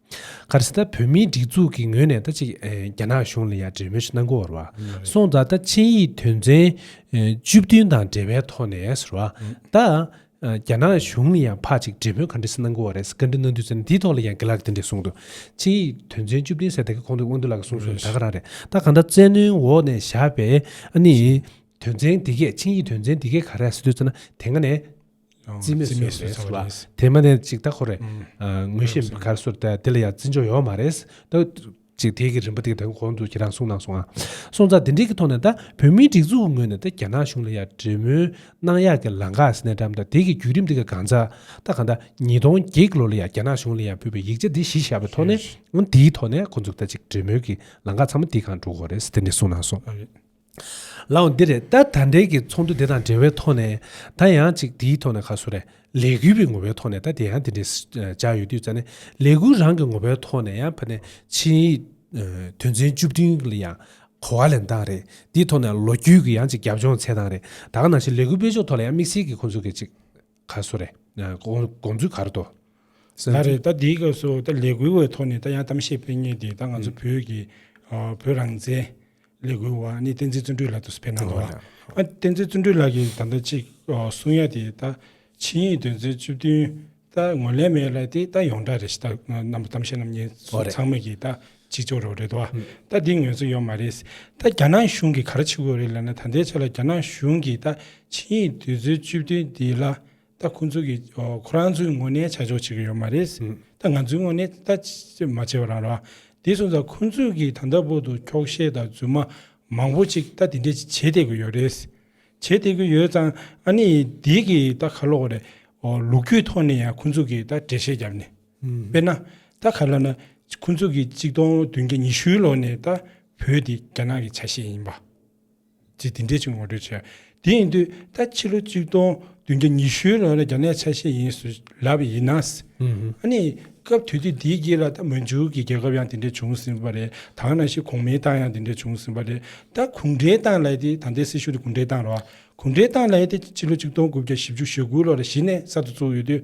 གར་སྟེ་ད་བོད་མིའི་སྒྲིག་འཛུགས་ཀྱི་ངོས་ནས་ད་ཅི་རྒྱ་ནག་གཞུང་ལ་ཡང་འབྲེལ་མོལ་ཞིག་གནང་དགོས་བར་བ་སོང་ད་ད་ཆིངས་ཡིག་དོན་ཚན་བཅུ་བདུན་དང་འབྲེལ་བའི་ཐོག་ནས་བར་བ་ད་རྒྱ་ནག་གཞུང་ལ་ཡང་ཕ་ཅིག་འབྲེལ་མོལ་ག་འདྲ་ཞིག་གནང་དགོས་བ་རེད་བཀའ་འདྲི་གནང་དུས་ཚན་འདིའི་ཐོག་ལ་ཡང་དགེ་ལགས་དེ་འདྲས་གསུངས་འདུག་ཆིངས་ཡིག་དོན་ཚན་བཅུ་བདུན་ཟེར་ད་གི་ཁོང་དུ་དབང་འདུས་ལགས་གསུངས་སོང་ད་ག་རང་རེད་ད་གང་ལྟར་བཙན་གནོན་འོག་ནས་བཞག་པའི་ཨ་ནི་དོན་ཚན་འདི་གས་ཆིངས་ཡིག་དོན་ཚན་འདི་གས་ག་རེ་ཟེར་དུས་ཚོད་ན་དེ་སྔ་ནས་རྩིས་མེད་བཟོས་པ་རེད་བ། དེ་མ་ནས་ཅིག་ད་ཁོ་རེད། ངོ་ཤེས་མི་གར་སོར་ད་དེ་ལ་ཡང་བརྩི་འཇོག་ཡོང་མ་རེད། ད་ཅིག་དེ་གི་རིན་པ་དེ་གི་དང་གོང་དུ་ཁྱེད་རང་གསུང་གནང་སོང་ཨ། སོང་ཙང་དེ་འདྲིའི་གི་ཐོག་ནས་ད་བོད་མིའི་སྒྲིག་འཛུགས་ཀི་ངོས་ནས་ད་རྒྱ་ནག་གཞུང་ལ་ཡང་འབྲེལ་མོལ་གནང་ཡག་གི་ལང་ག་སི་ནས་འགྲམ་ད་དེ་གི་བརྒྱུད་རིམ་དེ་གི་གང་ཛ་ད་གང་ད་ཉིས་སྟོང་བརྒྱད་གི་ལོ་ལ་ཡང་རྒྱ་ནག་གཞུང་ལ་ཡང་ཕུལ་བའི་ཡིག་ཆ་དེ་གཞི་བཞག་པའི་ཐོག་ནས་འོན་དེའི་ཐོག་ནས་ཁོང་ཚོ་ད་ཅིག་འབྲེལ་མོལ་གི་ལང་ག་ཚང་མ་དེ་གང་འགྲོ་གི་རེད་དེ་འདྲི་གསུང་གནང་སོང། ལའང་འདི་རེད་ད་ད་འབྲེལ་གྱི་ཚོགས་འདུ་དེ་དང་འབྲེལ་བའི་ཐོག་ནས་ད་ཡང་ཅིག་དེའི་ཐོག་ནས་ཁ་གསོ་རེ་ལས་གུས་པའི་ངོ་བོའི་ཐོག་ནས་ད་དེ་ཡང་དེ་འདྲའི་བྱ་ཡོད་དུས་ཙཱ་ནས་ལས་གུས་རང་གི་ངོ་བོའི་ཐོག་ནས་ཡང་ཕ་ནས་ཕྱིན་ཡིག་དོན་ཚན་བཅུ་བདུན་ལ་ཡང་གོ་བ་ལེན་སྟངས་རེད་དེའི་ཐོག་ནས་ལོ་རྒྱུས་ཀྱི་ཡང་ཅིག་རྒྱབ་ལྗོངས་འཚལ་སྟངས་རེད་ད་ག་ནང་བཞིན་ལས་གུས་པའི་ཕྱོགས་ཐོག་ལ་ཡང་དམིགས་བསལ་གྱི་ཁོང་ཚོ་གི་ཅིག། ག་སོ་རེད། དགོངས་ཚུལ་ག་རེ་དོ། ད་རེད་ད་འདིའི་སྐབས་སུ་ད་ལས་འགུལ་བའི་ཐོག་ནས་ད་ཡང་གཏམ་བཤད་སྤེལ་ངེས་ཏེ་ད་ང་ཚོ་བོད་ཀྱི་བོད་རང་བཙན་ལས་འགུལ་བ་ནི་བསྟན་འཛིན་བརྩོན་འགྲུས་ལགས་དུ་ཕེབས་གནང་འདུག་ལ། བསྟན་འཛིན་བརྩོན་འགྲུས་ལགས་ཀྱིས་ད་ལྟ་ཅིག་གསུང་ཡ་དེ་ད་ཕྱི་ཡིན་དོན་ཚན་བཅུ་བདུན་ད་ངོས་ལེན་མེད་ལ་དེ་ད་ཡོངས་གྲགས་རེད་ཞེས་ད་གནང་བ་གཏམ་བཤད་རྣམས་ངེད་ཚོ་ཚང་མས་ཀྱིས་ད་གཅིག་ཆོག་རོགས་རེད་དོ། ད་འདི་ངོས་ཚོ་ཡོག་མ་རེད། ད་རྒྱ་ནག་གཞུང་གི་ག་ར་བྱེད་དགོས་རེད་ལབ་ན་ད་ལྟའི་ཆ་ལ་རྒྱ་ནག་གཞུང་གིས་ད་ཆིངས་ཡིག་དུས་ཚོད་བཅུ་བདུན་འདི་ལ་ད་ཁོང་ཚོ་གིས་ཁོ་རང་ཚོའི་དངོས་གནས་བྱ་ཆོག་བྱེད་གི་ཡོག་མ་རེད། ད་ང་ཚོའི་དངོས་གནས་ད་མ་བྱེད་པ་རང་རོགས། འདི་སོང་ཙང་ཁོང་ཚོས་གིས་ད་ལྟ་བོ་དུ་འཁྱོག་བཤད་དང་རྫུན་མ་མང་བོ་ཅིག་ད་འདི་འདྲས་ཅིག་བྱེད་བསྡད་གི་ཡོག་རེད། བྱེད་བསྡད་གི་ཡོད་ཙང་ཨ་ནི་འདི་གིས་ད་ག་ལོག་རེད། ལུག་ཁྱུའི་ཐོག་ནས་ཡང་ཁོང་ཚོ་གིས་ད་འགྲེལ་བཤད་བརྒྱབ་ནས། དཔེར་ན། ད་ག་ལ་ན་ཁོ་ཚོ་གིས་གཅིག་སྟོང་བདུན་བརྒྱ་ཉི་ཤུའི་ལོ་ནས་ད་བོད་འདི་རྒྱ་ནག་གི་ཆ་ཤས་ཡིན་པ། ཅེས་འདི་འདྲའི་ཆུ་ངོ་སྤྲོད་བྱས། དེ་ཡིན་དུས་ད་ཕྱི་ལོ་གཅིག་སྟོང་བདུན་བརྒྱ་ཉི་ཤུའི་ལོ་ལ་རྒྱ་ནག་ཆ་ཤས་ཡིན་ཟུ་ལབ་པ་ཡིན་ན། ཨ་ནི་སྐབས་དུས་དུས་འདིའི་རྗེས་ལ་ད་མོན་ཇུ་གི་རྒྱལ་ཁབ་ཡང་དེ་འདྲས་བྱུང་ཟིན་པ་རེད་དང་ན་ཞིག་གོང་མའི་ཏང་ཡང་དེ་འདྲས་བྱུང་ཟིན་པ་རེད་ད་གུང་ཁྲན་ཏང་ལས་དེ་ད་ལྟའི་སྲིད་གཞུང་དེ་གུང་ཁྲན་ཏང་རེད་བ། གུང་ཁྲན་ཏང་ལས་དེ་ཕྱི་ལོ་གཅིག་སྟོང་དགུ་བརྒྱ་བཞི་བཅུ་ཞེ་དགུའི་ལོ་ལ་གཞི་ནས་གསར་དུ་བཙུགས་ཡོད་དུས།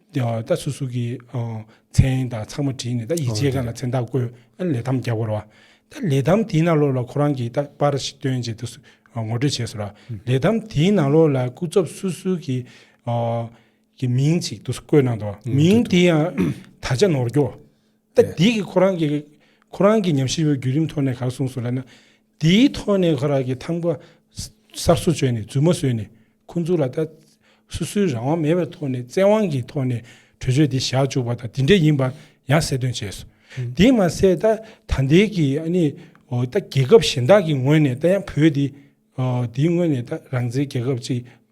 ད་སུ་སུ་ཀི་མཚན་དང་ཚང་མ་བྲིས་ནས་ད་ཡིད་ཆེས་ག་ལ་མཚན་རྟགས་བཀོད་ཨ་ལས་ཐམ་རྒྱག་པར་བ། ད་ལས་ཐམ་དེའི་ནང་ལོགས་ལ་ཁོ་རང་གིས་ད་པར་ཞིག་སྟོན་བྱེད་དུ་ངོ་སྤྲོད་བྱས་སོང་ར། ལས་ཐམ་དེའི་ནང་ལོགས་ལ་སྐུ་ཚབ་སུ་སུ་ཀི་གི་མིང་ཅིག་དུ་བཀོད་གནང་འདུག་མིང་དེ་ཡང་ད་ཆ་ནོར་འགྱོ། ད་འདི་གི་ཁོ་རང་གིས་ཁོ་རང་གིས་ཉམས་ཞིབ་པའི་བརྒྱུད་རིམ་ཐོག་ནས་ག་ར་གསུངས་སོང་ལ་ན། དེའི་ཐོག་ནས་ཁོ་རང་གིས་ཐམ་ཀ་གསར་བཟོ་བྱས་ནས་རྫུན་མ་བཟོས་ནས་ཁོང་ཚོ་ལ་ད་སོ་སོའི་རང་དབང་མེད་པའི་ཐོག་ནས་བཙན་དབང་གི་ཐོག་ནས་གྲོས་ཆོད་འདི་བཞག་བཅུག་པ་དང་དེ་འདྲས་ཡིན་པ་ཡང་གསལ་སྟོན་བྱས་སོ། དེས་མ་ཟད་ད་ད་ལྟའི་གི་ཨ་ནི་ད་རྒྱལ་ཁབ་གཞན་དག་གི་ངོས་ནས་ད་ཡང་བོད་དེ་འདིའི་ངོས་ནས་ད་རང་བཙན་རྒྱལ་ཁབ་ཅིག་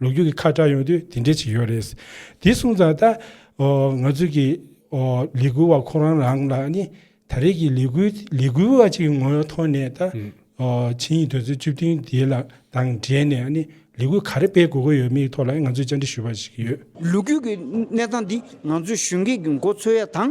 ལོ་རྒྱུས་ཀྱི་ཁ་བཀྲ་ཡོང་དུས་དེ་འདྲའི་ཆེ་ཡོད་རེད། དེ་གསུངས་ཙང་ད། ང་ཚོས་ཀྱི། ལས་འགུལ་བ་ཁོ་རང་རང་ལ་ནི། ད་རེས་ཀྱི་ལས་འགུལ་ལས་འགུལ་བ་ཅིག་གི་ངོ་བོའི་ཐོག་ནས་ད། ཆིངས་ཡིག་དོན་ཚན་བཅུ་བདུན་དེ་ལ་དང་འབྲེལ་ནས་ནི་ལས་འགུལ་ག་རེ་སྤེལ་དགོས་ཀྱི་ཡོད་མེད་ཀྱི་ཐོག་ལ་ང་ཚོས་བཅར་འདྲི་ཞུས་པ་ཞིག་ཡོད། ལོ་རྒྱུས་ཀྱི་གནས་སྟངས་འདི་ང་ཚོས་ཞུས་མཁན་གྱི་མགོ་འཚོས་ཡ་དང།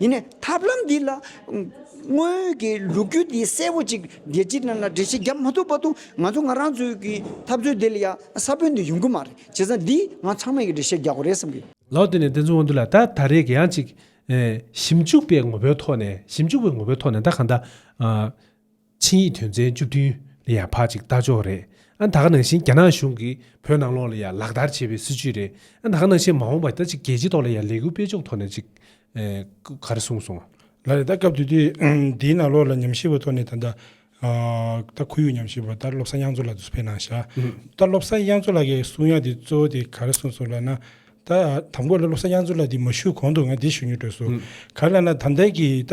ཡིན་ནས་ཐབས་ལམ་འདི་ལ། སྔོན་གྱི་ལུགས་རྒྱུད་འདི་གསལ་བོ་ཅིག་རྒྱལ་སྤྱིའི་ནང་ལ་འགྲེལ་བཤད་བརྒྱབ་མ་ཐུབ་པ་དང་ང་ཚོ་ང་རང་ཚོའི་གི་ཐབས་ཚུལ་འདི་ལ་ཡང་ས་བོན་འདི་ཡོང་གི་མ་རེད་བྱས་ཙང་འདིས་ང་ཚང་མས་གི་འགྲེལ་བཤད་རྒྱག་དགོས་རེད་བསམ་གི། ལོ་དེ་ནས་དེ་ཚོའི་དབང་དུ་ལ་ད་ད་རེས་གི་ཡང་ཅིག། ཞིབ་འཇུག་པའི་ངོ་བོའི་ཐོག་ནས་ཞིབ་འཇུག་པའི་ངོ་བོའི་ཐོག་ནས་ད་གང་ལྟར། ཆིངས་ཡིག་དོན་ཚན་བཅུ་བདུན་ལ་ཡང་ཕ་གཅིག་ལྟ་ཕྱོགས་རེད་ཨ་ད་ག་ནང་བཞིན་རྒྱ་ནག་གཞུང་གིས་བོད་ནང་ལོགས་ལ་ཡང་ལག་བསྟར་བྱེད་པའི་སྲིད་བྱུས་རེད་ཨ་ད་ག་ནང་བཞིན་མ་འོངས་པ་ད་ཅིག་རྒྱལ་སྤྱི་ཐོག་ལ་ཡང་ལས་འགུལ་སྤེལ་ཕྱོགས་ཐོག་ནས་ཅིག་སྐུ་གར་གསུངས་སོང། ལ་རེད་ད་སྐབས་དུས་དུས་འདིའི་ནང་ལོགས་ལ་ཉམས་ཞིབ་པ་ཐོག་ནས་ད་ལྟ་ད་ཁོར་ཡུག་ཉམས་ཞིབ་པ་ད་བློ་བཟང་དབྱངས་མཚོ་ལགས་དུ་སུ་ཕེབས་གནང་བཞག་ད་བློ་བཟང་དབྱངས་མཚོ་ལགས་ཀྱི་གསུང་དབྱངས་དེ་གཙོ་བོ་དེ་ག་རེ་གསུངས་སོང་ལ་ན་ད་དམ་གོ་ལ་ལོ་སར་དབྱངས་མཚོ་ལགས་འདི་མ་ཞུས་གོང་དུ་ང་འདི་ཞུ་མྱོང་འདོད་སོ། ག་ལ་ན་དམ་ཐལ་གྱི་ད་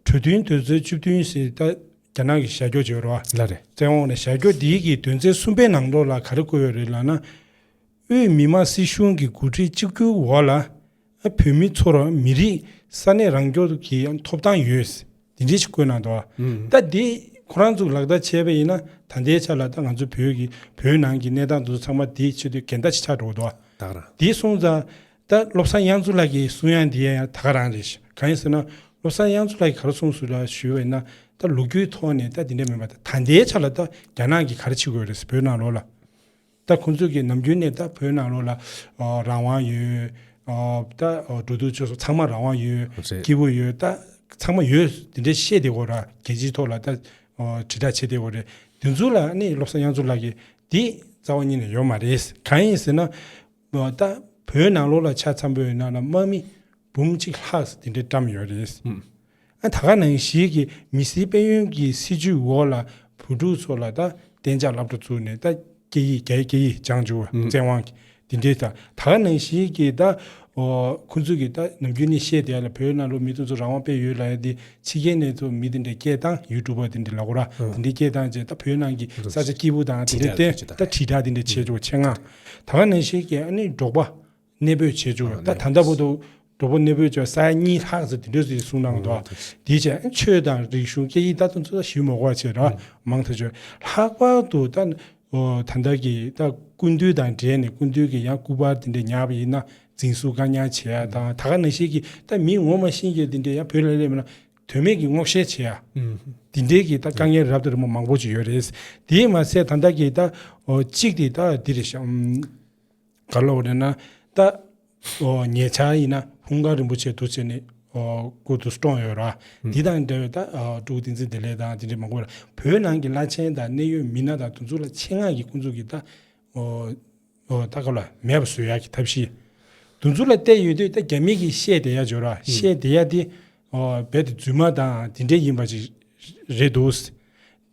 གྲོས་མཐུན་དོན་ཚན་བཅུ་བདུན་ཞེས་ད་རྒྱ་ནག་གི་ཞལ་འགྱོགས་བྱས་ཡོད་རེད་བ། ལ་རེད། བཙན་འོག་ནས་ཞལ་འགྱོགས་འདི་གི་དོན་ཚན་གསུམ་པའི་ནང་དོག་ལ་ག་རེ་བཀོད་ཡོད་རེད་ལགས་ན། དབུས་མི་དམངས་སྲིད་གཞུང་གི་འགོ་ཁྲིད་གཅིག་གྱུར་འོག་ལ། བོད་མི་ཚོར་མི་རིགས་ས་གནས་རང་སྐྱོང་གི་ཐོབ་ཐང་ཡོད། དེ་འབྲེལ་ཞིག་བཀོད་གནང་འདུག་ད་དེ་ཁོ་རང་ཚོ་ལག་བསྟར་བྱས་པ་ཡིན་ན་ད་ལྟའི་ཆ་ལ་ད་ང་ཚོ་བོད་ཀྱི་བོད་ནང་གི་གནས་སྟངས་དེ་ཚོ་ཚང་མ་དེ་ཆེད་དུ་གན་ད་ཞིག་ཆགས་འགྲོ་འདུག་ད་ག་རང། དེ་སོང་ཙང་ད་བློ་བཟང་དབྱངས་མཚོ་ལགས་ཀྱི་གསུང་ཡང་དེ་ཡང་ད་ག་རང་རེད་ཞེས་གང་ཡིན་ཟེར་ན་བློ་བཟང་དབྱངས་མཚོ་ལགས་ཀྱིས་ག་རེ་གསུང་ཟུར་ལ་ཞུས་པ་ཡིན་ན་ད་ལུག་ཁྱུའི་ཐོག་ནས་ད་དེ་འདྲ་མིན་པ་ད་ད་ལྟའི་ཆ་ལ་ད་རྒྱ་ནག་གིས་ག་རེ་བྱེད་དགོས་རེད་ཟེར་བོད་ནང་ལོགས་ལ་ད་ཁོང་ཚོ་གི་ནམ་རྒྱུན་ནས་ད་བོད་ནང་ལོག་ལ་རང་དབང་ཡོད། ད་འགྲོ་འདུག་ཆོས་སོགས་ཚང་མ་རང་དབང་ཡོད། རེད། སྐྱིད་པོ་ཡོད། ད་ཚང་མ་ཡོད་དེ་འདྲའི་བཤད་དེ་གོ་ར་རྒྱལ་སྤྱིའི་ཐོག་ལ་ད་དྲིལ་བསྒྲགས་བྱེད་དེ་གོ་རེད། དེ་ཚོ་ལ་ནི་བློ་བཟང་དབྱངས་མཚོ་ལགས་ཀྱིས་འདི་རྩ་བ་ཉིད་ནས་ཡོད་མ་རེད། གང་ཡིན་ཟེར་ན། ད་བོད་ནང་ལོག་ལ་ཆ་ཚང་པོའི་ནང་ལ་དམག་མི་འབུམ་གཅིག་ལྷག་དེ་འདྲས་བཀྲམས་ཡོད་རེད། ད་སྐབས་ནང་གཞིས་ཀྱི་མི་སེར་དཔལ་ཡོན་གྱི་སྲིད་ཇུས་འོག་ལ་བུ་ཕྲུག་ཚོ་ལ་ད་གཏན་འཇགས་ལབ་འགྲོ་བཙུགས་ནས་ད་སྐད་ཡིག་རྒྱ་ཡིག་སྐད་ཡིག་སྦྱང་བཅུག་བཙན་དབང་གིས་དེ་འདྲའི་ད་སྐབས་ནང་གཞིས་ཀྱི་ད་ཁོ་ཚོ་གི་ད་ནམ་རྒྱུན་ནས་བཤད་བསྡད་ལ་བོད་ནང་ལོ་མི་དེ་ཚོ་རང་དབང་སྤེལ་ཡོད་ལ་ཡ་དེ་ཕྱི་རྒྱལ་ནས་ཚོ་མི་དེ་འདྲའི་སྐད་གདངས་ཡུལ་གྲུ་པ་དེ་འདྲའི་ལ་གོ་ར་དེ་འདྲའི་སྐད་གདངས་བྱས་ད་བོད་ནང་གི་ས་ཆ་སྐྱིད་པོ་དང་དེ་འདྲའི་སྟེང་ད་དྲིལ་བསྒྲགས་དེ་འདྲ་བྱས་བཅུག་བྱེད་ངག་ད་སྐབས་ནང་གཞིས་ཀྱི་ཨ་ནི་འབྲོག་པ་གནས་སྤོས་བྱས་བྱུང་བ་ད་ལྟ་བར་དུ་གྲོགས་པོ་གནས་སྤོས་བྱས་པ་ས་ཡ་གཉིས་ལྷག་ཙམ་དེ་འདྲ་ཞིག་གསུངས་གནང་འདུག་དེའི་ཆ་ཆོས་དང་རིག་གཞུང་སྐད་ཡིག་ལྟ་ཚུལ་སོགས་ཞིབ་མོ་བར་ཆད་ར་མང་ཐག་ཆོད་ལྷག་པར་དུ་ད་ད་ལྟར་གྱི་ད་ཀུན་བཏུས་དང་འབྲེལ་ནས་ཀུན་བཏུས་ཀྱི་ཡང་སྐུ་པར་དེ་འདྲ་ཉར་བ་ཡིན་ན་འཛིན་བཟུང་བཀག་ཉར་བྱས་ཡ་དང་ད་ག་ན་ཞིག་གི་ད་མི་ངོ་མ་ཤེས་མཁན་དེ་འདྲ་ཡང་བོད་ལ་སླེབས་ན་དོན་མེད་ཀྱི་སྔོག་བཤེར་བྱས་ཡ་དེ་འདྲའི་གི་ད་དཀའ་ངལ་རབ་དང་རིམ་པ་མང་པོ་ཅིག་ཡོད་རེད་དེས་མ་ཚད་ད་ལྟ་གི་ད་གཅིག་དེ་ད་འདིར་ག་ལོག་རེ་ན་ད། ཉེ་ཆར་ཡིན་ན་ཧུང་ཀང་རིན་པོ་ཆེ་དུ་ཆེ་ནས་སྐུ་དུ་བཀྲོངས་ཡོད་ར། དེ་དང་འབྲེལ་བའི་ད་ཀྲུའུ་ཏིང་ཚིན་དེ་ལས་དང་དེ་འདྲའི་མང་པོ་ལ་བོད་ནང་གི་བླ་ཆེན་དང་གནད་ཡོད་མི་སྣ་དང་དུ་ཚུགས་ལ་ཆེད་མངགས་ཀྱིས་སྐུ་འཛུགས་ཀྱིས་ད། ད་ག་ལ་མེད་པ་བཟོས་ཡ་གི་ཐབས་ཤེས། དུ་ཚུགས་ལ་བལྟས་ཡོད་དུས་ད་རྒྱ་མིག་གིས་བཤད་བསྡད་ཡ་འཇོག་ར་བཤད་བསྡད་ཡ་དེ། རྦད་དེ་རྫུན་མ་དང་དེ་འདྲས་ཡིན་པ་ཞིག་རེད་འདུག།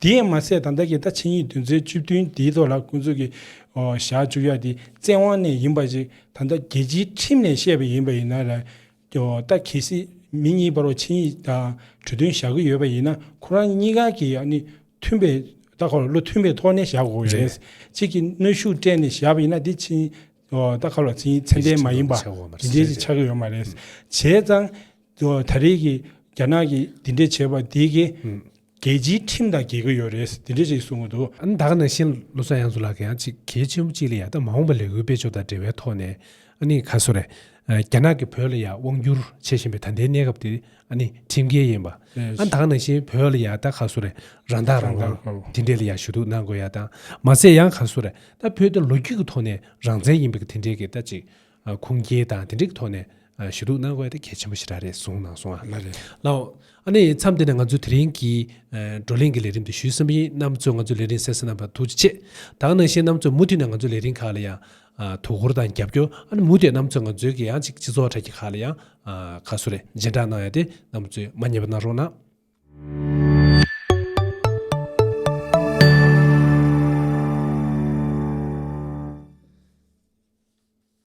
དེ་ཡང་མ་ཟད་ད་ལྟ་གི་ད་ཕྱི་ཉིན་དོན་ཚན་བཅུ་བདུན་དེའི་ཐོག་ལ་ཁོང་ཚོ་གི་ཞག་བཅུ་བཞག་དེ་བཙན་དབང་ནས་ཡིན་པ་ཞིག་ད་ལྟ་རྒྱལ་སྤྱིའི་ཁྲིམས་ནས་བཤད་པ་ཡིན་པ་ཡིན་ན་ལ་ད་གལ་སྲིད་མི་གཉིས་བར་ཕྱི་ཉིན་ད་གྲོས་མཐུན་བཞག་གི་ཡོད་པ་ཡིན་ན་ཁོ་རང་གཉིས་ཀ་གི་ཡང་ནི་མཐུན་པའི་ད་གོ་བློ་མཐུན་པའི་ཐོག་ནས་བཞག་དགོས་ཡོད་རེད། གཅིག་གི་གནོད་ཤུགས་སྤྲད་ནས་བཞག་པ་ཡིན་ན་དེ་ཕྱི་ཉིན་རྟ་ཁ་ལོ་ཚིག་ཚད་ལྡན་མ་ཡིན་པ་འདི་འདྲའི་ཞིག་ཆགས་ཀྱི་ཡོད་མ་རེད། བྱས་ཙང་ད་རེས་ཀྱི་རྒྱ་ནག་གི་འདི་འདྲའི་བྱས་པ་འདི་གིས་རྒྱལ་སྤྱིའི་ཁྲིམས་དང་འགལ་གྱི་ཡོད་རེད་འདི་འདྲའི་ཞིག་གསུང་གི་འདུག། ཨ་ནི་ད་ག་ནང་བཞིན་ལོ་ཙཱ་དབྱངས་མཚོ་ལགས་ཀྱིས་ཡང་གཅིག་གལ་ཆེན་པོ་གཅིག་ལ་ཡང་ད་མ་འོངས་པ་ལས་འོས་པའི་ཕྱོགས་དང་འབྲེལ་བའི་ཐོག་ནས་ཨ་ནི་ག་སོ་རེད། རྒྱ་ནག་གིས་བོད་ལ་ཡང་དབང་བསྒྱུར་བྱེད་བཞིན་པའི་ད་ལྟའི་གནས་སྐབས་དེ་ནི་ཁྲིམས་འགལ་ཡིན་པ། ཨ་དང་ནང་བཞིན་བོད་ལ་ཡང་ད་ག་སུ་རེ་རང་བདག་རང་དབང་དེ་འདྲས་ལ་ཡང་ཞུ་གཏུགས་གནང་དགོས་ཡ་དང་མ་ཟད་ཡང་ག་སུ་རེ་ད་བོད་དེ་ལོ་རྒྱུས་ཀྱི་ཐོག་ནས་རང་བཙན་ཡིན་པའི་གི་དེ་འདྲས་ཀྱི་ད་ཅིག་ཁུངས་སྐྱེལ་དང་དེ་འདྲས་ཀྱི་ཐོག་ནས་ཞུ་གཏུགས་གནང་དགོས་ཡ་ད་གལ་ཆེན་པོ་ཞིག་ར་རེད་གསུངས་གནང་སོང་ང་ལ་འོ་ཨ་ནི་མཚམས་འདི་ནས་ང་ཚོས་དེ་རིང་གི་བགྲོ་གླེང་གི་ལས་རིམ་འདི་ཞུས་ཟིན་པ་ཡིན་གནམ་གཙོས་ང་ཚོའི་ལས་རིང་གསལ་གསལ་གནང་བ་ཐུགས་རྗེ་ཆེ་ད་ག་ནང་བཞིན་གནམ་གཙོས་མུ་མཐུད་ནས་ང་ཚོའི་ལས་རིང་ཁག་ལ་ཡང་དོ་ཁུར་དང་རྒྱབ་སྐྱོར་ཨ་མུ་དེ་རྣམས་ཚོས་ང་ཚོའི་གི་ཡང་ཅིག་སྤྱི་ཚོགས་གྲ་གི་ཁ་ལ་ཡང་ག་གསོ་རེ་སྦྱིན་བདག་གནང་ཡ་དེ་རྣམས་ཚོས་མ་ཉེས་པ་གནང་རོགས་གནང།